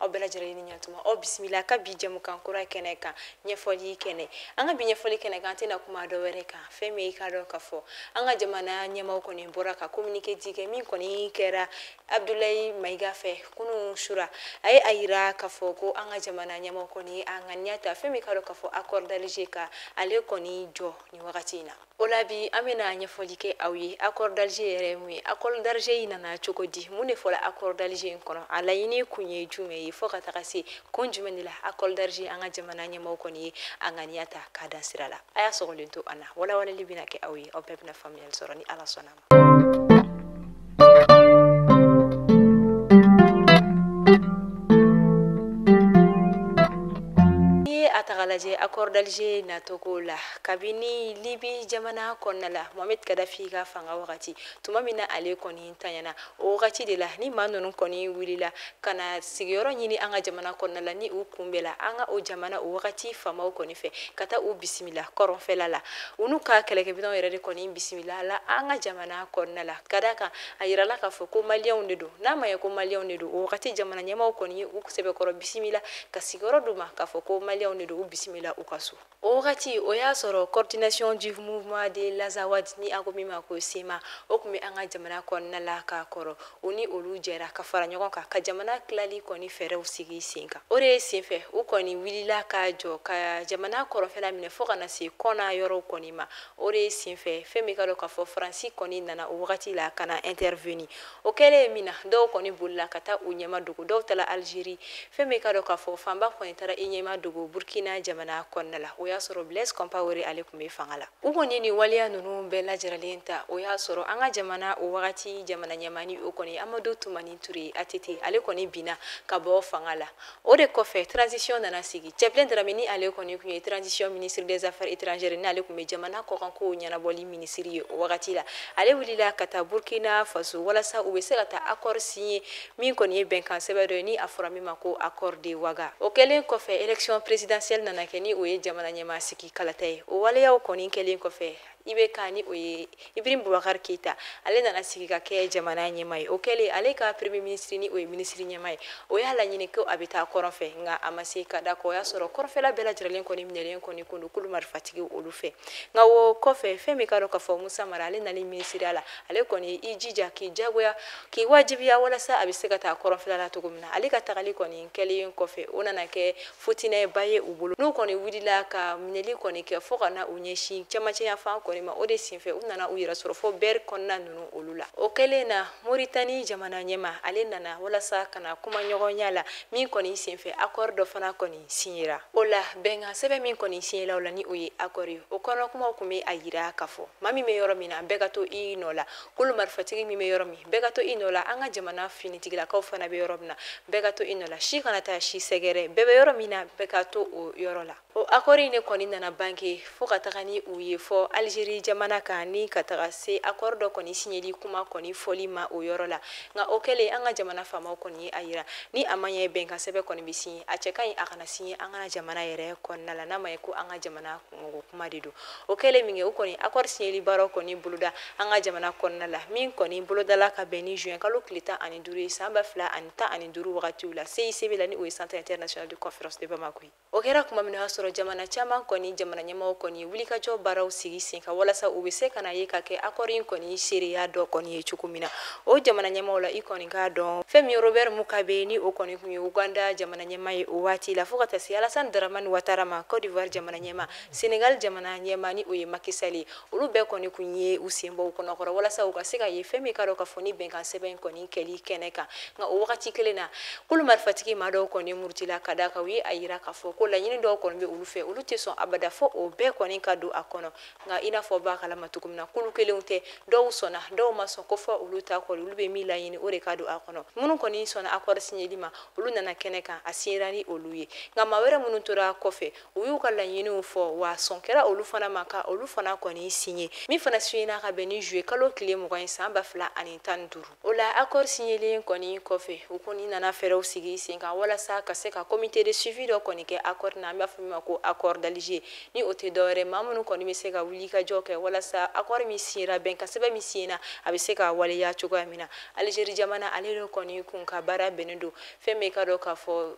aw bɛɛ lajɛlen ni ɲatuma aw bisimila an ka bi jɛmukan kura kɛnɛ kan ɲɛfɔli kɛnɛ an ka bi ɲɛfɔli kɛnɛ kan an tɛna kuma dɔ wɛrɛ kan fɛn min ye k'a dɔn k'a fɔ an ka jamana ɲɛmaaw kɔni bɔra ka kominike dɔ kɛ min kɔni kɛra abdulayi mayiga fɛ kunu sura a ye a yira k'a fɔ ko an ka jamana ɲɛmaaw kɔni a ŋaniya ta fɛn min k'a dɔn k'a fɔ accord d'Alger ka ale kɔni jɔ nin wagati in na o la bi an bɛna ɲɛfɔli kɛ aw ye accord d'Alger yɛrɛ ye mun ye accord d'Alger in nana cogo di mun de fɔla accord d'Alger in kɔnɔ a laɲini kun ye jumɛn ye fɔ ka taga se kun jumɛn de la accord d'Alger an ka jamana ɲɛmɔgɔ kɔni ye a ŋaniya ta k'a dan sira la a y'a sɔgɔlen to an na walawalali bɛna kɛ aw ye aw bɛɛ bɛna faamuyali sɔrɔ ni ala sɔnna lajɛ accord d'Alger nacogo la kabini libi jamana kɔnɔna la mohamɛd kadafi ka fanga wagati tuma min na ale kɔni tanyana o wagati de la ni maa ninnu kɔni wulila ka na sigiyɔrɔ ɲini an ka jamana kɔnɔna la ni u kunbɛla an ka o jamana o wagati faamaw kɔni fɛ ka taa u bisimila kɔrɔnfɛla la u n'u ka kɛlɛkɛminɛnw yɛrɛ de kɔni bisimilala an ka jamana kɔnɔna la ka d'a kan a yirala k'a fɔ ko maliyɛnw de don n'a ma ye ko maliyɛnw de don o wagati jamana ɲɛmaaw kɔni ye u sɛbɛkɔrɔ bisimila ka sigiyɔrɔ d'u ma k'a fɔ ko maliyɛnw de don u bisimila u ka so o wagati o y'a sɔrɔ coordination du mouvement de l'Azawad ni a ko min ma ko sema o tun bɛ an ka jamana kɔnɔna la k'a kɔrɔ u ni olu jɛra ka fara ɲɔgɔn kan ka jamana tilali kɔni fɛɛrɛw sigi sen kan o de ye senfɛ u kɔni wulila ka jɔ ka jamana kɔrɔnfɛla minɛ fɔɔ ka na se kɔna yɔrɔw kɔni ma o de ye senfɛ fɛn min k'a dɔn k'a fɔ faransi kɔni nana o wagati la ka na interveni o kɛlen ye min na dɔw kɔni bolila ka taa u ɲɛma dogo dɔw tala algérie fɛn min k'a dɔn k'a fɔ fanba kɔni tara i ɲɛma dogo burkina jamana kɔnɔna la o y'a sɔrɔ blaise compawere ale tun bɛ fanga la u kɔni ni waleya nunu bɛɛ lajaralen ta o y'a sɔrɔ an ka jamana o wagati jamana ɲɛmaa ni o kɔni amadu tumani ture atete ale kɔni binna ka bɔ fanga la o de kɔfɛ transition nana sigi cɛbilen darame ni ale kɔni tun ye transition ministre des affaires étrangères n'ale tun bɛ jamana kɔkankow ɲɛnabɔli minisiri ye o wagati la ale wulila ka taa burkina faso walasa u bɛ se ka taa accord signer min kɔni ye bɛnkan sɛbɛn dɔ ye ni a fɔra min ma ko accord de waga o kɛlen kɔfɛ élection présidentielle nana kɛ ni o ye jamana ɲɛmaa sigi kalata ye o waleyaw kɔni kɛlen kɔfɛ IBK ni o ye ibrim bubakari keyita ale nana sigi ka kɛ jamana ɲɛmaa ye o kɛlen ale ka premier minisiri ni o ye minisiri ɲɛmaa ye o y'a laɲini ko a bɛ taa kɔrɔn fɛ nka a ma se ka d'a kan o y'a sɔrɔ kɔrɔnfɛla bɛɛ lajɛrɛlen kɔni minɛlen kɔni kun don kulu marifatigi olu fɛ nka o kɔfɛ fɛn min k'a dɔn k'a fɔ musa mara ale nalen minisiriya la ale kɔni i jija k'i jagoya k'i wajibiya walasa a bɛ se ka taa kɔrɔnfɛla la cogo min na ale ka tagali kɔni kɛlen kɔfɛ o nana kɛ futinɛba ye u bolo n'u kɔni wulila ka minɛli kɔni kɛ fɔɔ ka na u ɲɛsin cɛmancɛyanfan kɔni ma o de senfɛ u nana u yɛrɛ sɔrɔ fo bɛri kɔnɔna ninnu olu la o kɛlen na moritani jamana ɲɛma ale nana walasa ka na kumaɲɔgɔnya la min kɔni senfɛ akɔri dɔ fana kɔni siɲɛra o la bɛnkan sɛbɛn min kɔni siɲɛla o la ni o ye akɔri o kɔnɔkumaw kun be a yira k'a fɔ maa min be yɔrɔ min na bɛɛ ka to i nɔ la kulu marifatigi min bɛ yɔrɔ min bɛɛ ka to i nɔ la an ka jamana finitigilakaw fana bɛ yɔrɔ min na bɛɛ ka to i nɔ la si kana taa si sɛgɛrɛ bɛɛ bɛ yɔrɔ min na bɛɛ ka to o yɔrɔ la o akɔri in de kɔni nana bange fo ka taga ni u ye fɔ alizeri jamana kan ni ka taga se akɔri dɔ kɔni siɲɛli kuma kɔni fɔli ma o yɔrɔ la nka o kɛlen an ka jamana faamaw kɔni ye a yira ni a ma ɲɛ bɛnkan sɛbɛn kɔni bɛ siɲɛ a cɛ ka ɲi a ka na siɲɛ an ka jamana yɛrɛ kɔnɔna la n'a ma ye ko an ka jamana mɔgɔ kuma de don o kɛlen minkɛ u kɔni akɔri siɲɛli baaraw kɔni boloda an ka jamana kɔnɔna la min kɔni bolodala ka bɛn ni juin kalo tile tan ani duuru ye san ba fila ani tan ani duuru wagatiw la CICB la ni o ye centre international de conférence de Bamako ye o kɛra kuma min na o y'a sɔrɔ jamana caman kɔni jamana ɲɛmɔgɔ kɔni ye wulikajɔ baaraw sigi sen kan walasa u bɛ se ka na yen ka kɛ akɔri in kɔni seereya dɔ kɔni ye cogo min na o jamana ɲɛmaw la i kɔni k'a dɔn fɛn min ye Robert Mugabe ni o kɔni kun ye Uganda jamana ɲɛma ye o waati la fo ka taa se alasan daramani watara ma côte d'ivoire jamana ɲɛma senegal jamana ɲɛma ni o ye maki sali olu bɛɛ kɔni kun ye u senbɔ u kɔnɔkɔrɔ walasa u ka se ka ye fɛn min ka dɔn k'a fɔ ni bɛnkan sɛbɛn kɔni kɛli kɛnɛ kan nka o wagati kelen na kulu marifatigi maa dɔw kɔni murutila ka da kan u ye a yira k'a fɔ ko laɲini dɔw kɔni bɛ olu fɛ olu tɛ sɔn abada fɔ o bɛɛ kɔni ka don a kɔnɔ nka i n'a fɔ b'a kalama cogo min na kulu kelenw tɛ dɔw sɔnna dɔw ma sɔn ko fɔ olu ta kɔni olu bɛ min laɲini o de ka don a kɔnɔ minnu kɔni sɔnna akɔri siɲɛli ma olu nana kɛnɛ kan a siɲɛra ni olu ye nka maa wɛrɛ minnu tora kɔfɛ u y'u ka laɲiniw fɔ wa sɔn kɛra olu fana ma ka olu fana kɔni siɲɛ min fana siɲɛna ka bɛn ni juin kalo tile mugan san ba fila ani tan ni duuru o la akɔr siɲɛlen kɔni kɔfɛ u kɔni nana fɛɛrɛw sigi sen kan walasa ka se ka comité de suivi dɔ kɔni kɛ akɔr na an b'a fɔ min ma ko akɔr d'alger ni o tɛ dɔwɛrɛ maa minnu kɔni bɛ se ka wuli ka jɔ kɛ walasa akɔr min siɲɛra bɛnkansɛbɛn min siɲɛna a bɛ se ka waleya cogoya min na alizeri jamana ale de kɔni kun ka baara bɛnnen don fɛn min ka dɔn k'a fɔ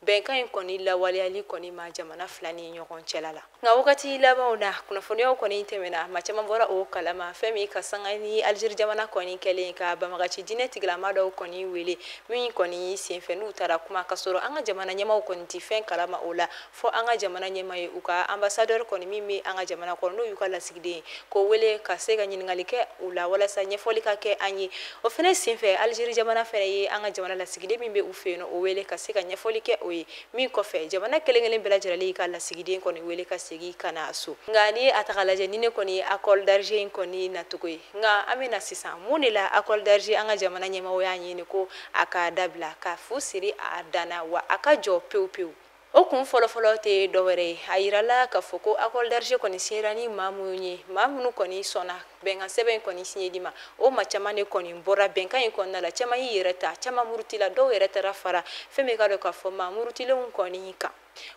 bɛnkan in kɔni lawaleyali kɔni ma jamana fila ni ɲɔgɔn cɛla la nka wagati labanw na kunnafoniyaw kɔni tɛmɛna maa caman bɔra o kalama fɛn min ka sanga ni alizeri jamana kɔni kɛlen ka banbagaci diinɛ tigilama dɔw kɔni wele min kɔni senfɛ n'u taara kuma ka sɔrɔ an ka jamana ɲɛmaw kɔni tɛ fɛn kalama o la fɔ an ka jamana ɲɛma ye u ka anbasadɛri kɔni min bɛ an ka jamana kɔnɔ n'o y'u ka lasigiden ye k'o wele ka se ka ɲininkali kɛ u la walasa ɲɛfɔli ka kɛ an ye o fɛnɛ senfɛ alizeri jamana fɛnɛ ye an ka jamana lasigiden min bɛ u fɛ yen o wele ka se ka ɲɛfɔli kɛ o ye min kɔfɛ jamana kelen kelen bɛɛ lajɛlen y'i ka lasigiden kɔni wele ka segin ka na so nka ni a ta k'a lajɛ nin de kɔni ye akɔr d'alger in kɔni nacogo ye nka an bɛ na sisan mun de la akɔr d'alger an ka jamana ɲɛmaaw y'a ɲini ko a ka dabila ka fu siri a dan na wa a ka jɔ pewu pewu o kun fɔlɔfɔlɔ tɛ dɔwɛrɛ ye a yirala k'a fɔ ko accord d'Alger kɔni signera ni maa minnu ye maa minnu kɔni sɔnna bɛnkan sɛbɛn in kɔni signeli ma o maa caman de kɔni bɔra bɛnkan in kɔnɔna la caman y'i yɛrɛ ta caman murutila dɔw yɛrɛ taara fara fɛn min ka dɔn k'a fɔ maa murutilenw kɔni kan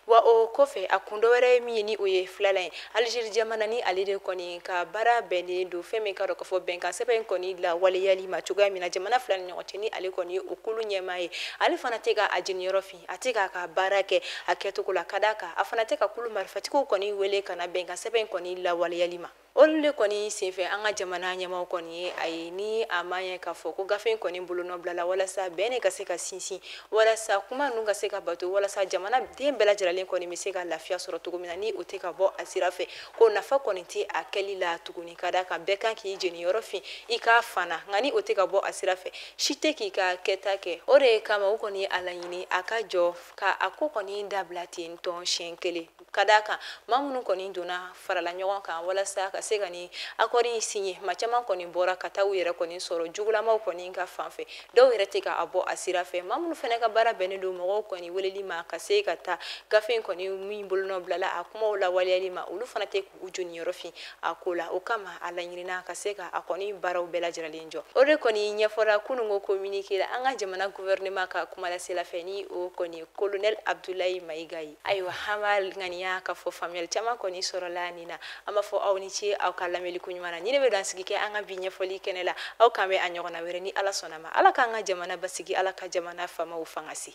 wa o kɔfɛ a kun dɔwɛrɛ ye min ye ni o ye filanan ye Algérie jamana ni ale de kɔni ka baara bɛnnen don fɛn min ka dɔn k'a fɔ bɛnkan sɛbɛn in kɔni lawaleyali ma cogoya min na jamana fila ni ɲɔgɔn cɛ ni ale kɔni ye o kulu ɲɛmaa ye ale fana tɛ ka a jeniyɔrɔ fin a tɛ k'a ka baara kɛ a kɛcogo la ka d'a kan a fana tɛ ka kulu marifatigiw kɔni wele ka na bɛnkan sɛbɛn in kɔni lawaleyali ma olu de kɔni senfɛ an ka jamana ɲɛmaaw kɔni ye a ye ni a ma ɲɛ k'a fɔ ko gafe in kɔni bolonɔ bilala walasa bɛn de ka se ka sinsin walasa kuma ninnu ka se ka bato walasa jamanaden bɛɛ lajɛrɛlen kɔni bɛ se ka lafiya sɔrɔ cogo min na ni o tɛ ka bɔ a sira fɛ ko nafa kɔni tɛ a kɛli la tuguni ka d'a kan bɛɛ kan k'i jeniyɔrɔ fin i ka fan na nka ni o tɛ ka bɔ a sira fɛ si tɛ k'i ka kɛta kɛ o de ye kama u kɔni a laɲini a ka jɔ ka a ko kɔni dabila ten tɔn siɲɛ kelen ka d'a kan maa minnu kɔni donna farala ɲɔgɔn kan walasa ka se ka nin accord in signé maa caman kɔni bɔra ka taa u yɛrɛ kɔni sɔrɔ jugulamaw kɔni ka fanfɛ dɔw yɛrɛ tɛ ka a bɔ a sira fɛ maa minnu fɛnɛ ka baara bɛnnen don mɔgɔw kɔni weleli ma ka se ka taa gafe in kɔni min bolonɔ bilala a kumaw lawaleyali ma olu fana tɛ u joniyɔrɔ fin a ko la o kama a laɲinina ka se ka a kɔni baaraw bɛɛ lajɛrɛlen jɔ o de kɔni ɲɛfɔra kunun ko communiqué la an ka jamana gouvernement ka kumalasela fɛ ni o kɔni ye colonel Abdoulaye Maïga ye ayiwa an b'a ŋaniya k'a fɔ faamuyali caman kɔni sɔrɔla nin na an b'a fɔ aw ni ce aw ka lamɛnli ko ɲuman na nin de bɛ dan sigi kɛ an ka bi ɲɛfɔli kɛnɛ la aw k'an bɛn a ɲɔgɔnna wɛrɛ ni ala sɔnna a ma ala k'an ka jamana basigi ala ka jamana faamaw fangasi